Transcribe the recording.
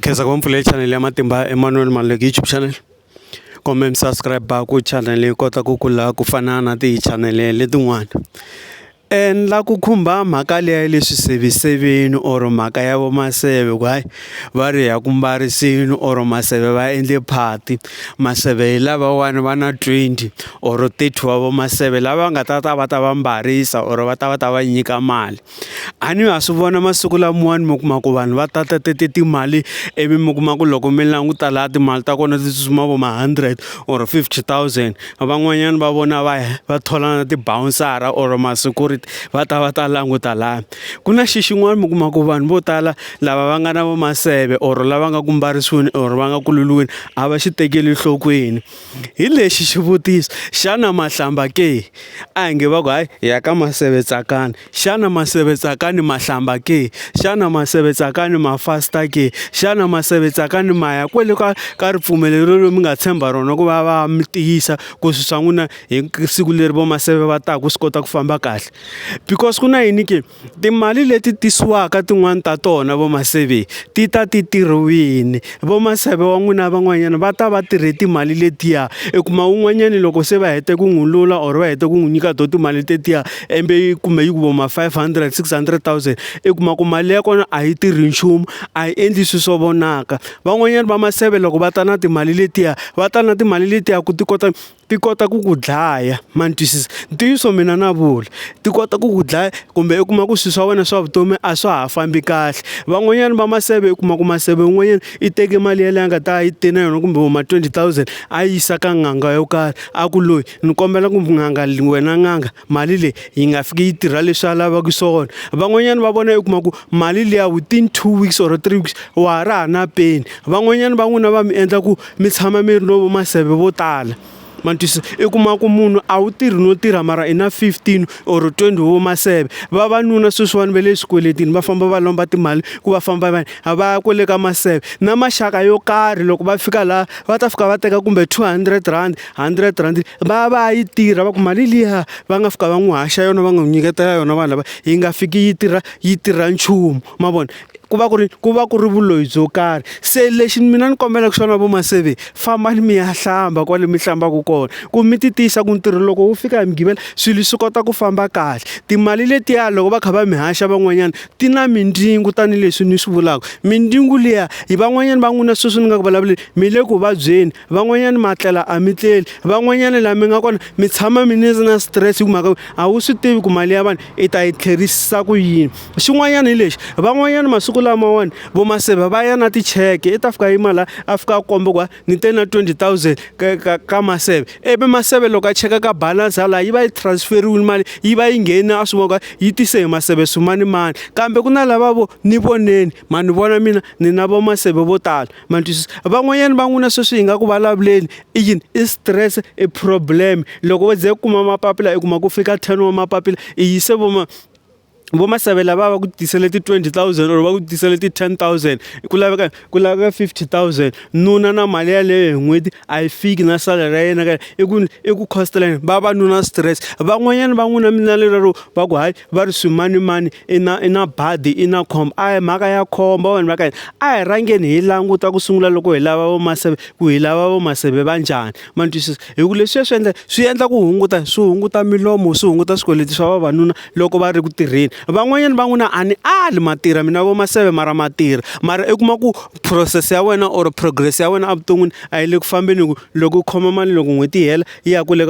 khensa ku va mi pfulele chanele ya matimba Emmanuel Maluleke YouTube channel kumbe mi subscribe ku chanele yi kota ku kula ku fana na ti chanele letin'wana endla ku khumba mhaka leyi ya leswi seviseveni or mhaka ya vo maseve ku hayi va ri ha ku mbarisini or maseve va endle phati maseve hi lavawani va na twenty or thirty wa vo maseve lava nga ta ta va ta va mbarisa or va ta va ta va nyika mali. A ni ha swi vona masiku lamawani mi kuma ku vanhu va ta ta ta ta timali ivi mi kuma ku loko mi languta laha timali ta kona ti tsutsuma vo ma hundred or fifty thousand van'wanyana va vona va ya va thola na tibawunsara or ma security va ta va ta languta lani, ku na xi xin'wana mi kuma ku vanhu vo tala lava va nga na va maseve or lava nga ku mbarisiweni or va nga ku lulweni a va xi tekeli enhlokweni. hi lexi xivutiso xana mahlamba ke a hi nge va ku hayi ya ka masevetsakani xana masevetsakani mahlamba ke xana masevetsakani ma fasta ke xana masevetsakani ma ya kwele ka ka ripfumelo leri mi nga tshemba rona ku va va mi tiyisa ku swi swa n'wina hi siku leri vo maseve va taka swi kota ku famba kahle because ku na yini ke. Timali leti tisiwaka tin'wani ta tona vo maseve ti ta ti tirhiwini vo maseve wa n'wina van'wanyana va ta va tirhe timali letiya i kuma un'wanyani loko se va hete ku n'wi lula or va hete ku n'wi nyika to timali tetiya embe yi kumbe yi ku vo ma five hundred six hundred thousand i kuma ku mali ya kona a yi tirhi nchumu a yi endli swi swo vonaka van'wanyani va maseve loko va ta na timali letiya va ta na timali letiya ku ti kota. ti kota ku ku dlaya ma ni twisisa ntiyiso mina na vula ti kota ku ku dlaya kumbe u kuma ku swilo swa wena swa vutomi a swa ha fambi kahle van'wanyana va maseve u kuma ku maseve un'wanyana i teke mali yeleyo a nga ta yi te na yona kumbe vo ma twenty thousand a yi yisa ka n'anga yo karhi a ku loyi ni kombela ku n'anga wena n'anga. mali leyi yi nga fiki yi tirha leswi a lavaka swona van'wanyana va vona u kuma ku mali liya within two weeks or three weeks wa ha ri ha na peni van'wanyana va n'wina va mi endla ku mi tshama mi ri no maseve vo tala ma twisisa i kuma ku munhu a wu tirhi no tirha mara i na fifteen or twenty wo maseve vavanuna sweswiwani va le swikweletini va famba va lomba timali ku va famba va a va ya kwale ka maseve na maxaka yo karhi loko va fika laha va ta fika va teka kumbe two hundred rand 100 rand va va yi tirha va ku mali liya va nga fika va n'wi haxa yona va n'wi nyiketela yona vanhu lava yi nga fiki yi tirha yi tirha nchumu ma vona ku va ku ri ku va ku ri vuloyi byo karhi se lexi mina ni kombelaka xona vo maseve fambani mi ya hlamba kwale mi hlambaka kona ku mi ti tiyisa ku ntirho loko wu fika hi mugqivela swilo swi kota ku famba kahle timali letiya loko va kha va mi haxa van'wanyana ti na mindzingu tanihileswi ni swi vulaka mindzingu liya hi van'wanyana va n'wina sweswi ni nga ku vulavuleni mi le ku vabyeni van'wanyana ma tlela a mi tleli van'wanyana laha mi nga kona mi tshama mi ni na stress hi ku mhaka a wu swi tivi ku mali ya vanhu i ta yi tlherisisa ku yini xin'wanyana hi lexi van'wanyana masiku lamawani vo maseve va ya na ticheke i ta fika yi mala a fika a komba ku va ni te na twenty thousand ka ka ka maseve ivi maseve loko a cheka ka balance ya laha yi va yi transferiwile mali yi va yi ngheni a swi vona ku yi tise hi maseve swimanimani kambe ku na lava vo ni voneni ma ni vona mina ni na vo maseve vo tala ma ni twisisa van'wanyana va n'wina sweswi hi nga ku vulavuleni i yini i stress i problem loko wo ze u kuma mapapila i kuma ku fika ten wa mapapila i yise vo ma vo masavela va va ku tisele ti twenty thousand or va ku tisele ti ten thousand ku laveka ku laveka fifty thousand nuna na mali yaleyo hi n'hweti a yi fiki na salary ya yena ka i ku i ku cost-a la yena va va nuna stress van'wanyana va n'wina mi na lero va ku hayi va ri swimanimani i na i na badi i na khombo a hi mhaka ya khombo vanhu va ka hina a hi rhangeni hi languta ku sungula loko hi lava vamaseve ku hi lava vamaseve va njhani ma ni twisisa hi ku leswiya swi endla swi endla ku hunguta swi hunguta milomo swi hunguta swikweleti swa vavanuna loko va ri ku tirheni van'wanyana va n'wi na a ni ali ma tirha mina vamaseve mara ma tirha mara i kuma ku process ya wena or progress ya wena evuton'wini a yi le ku fambeni hi ku loko u khoma mali loko n'hweti yi hela yi ya kule.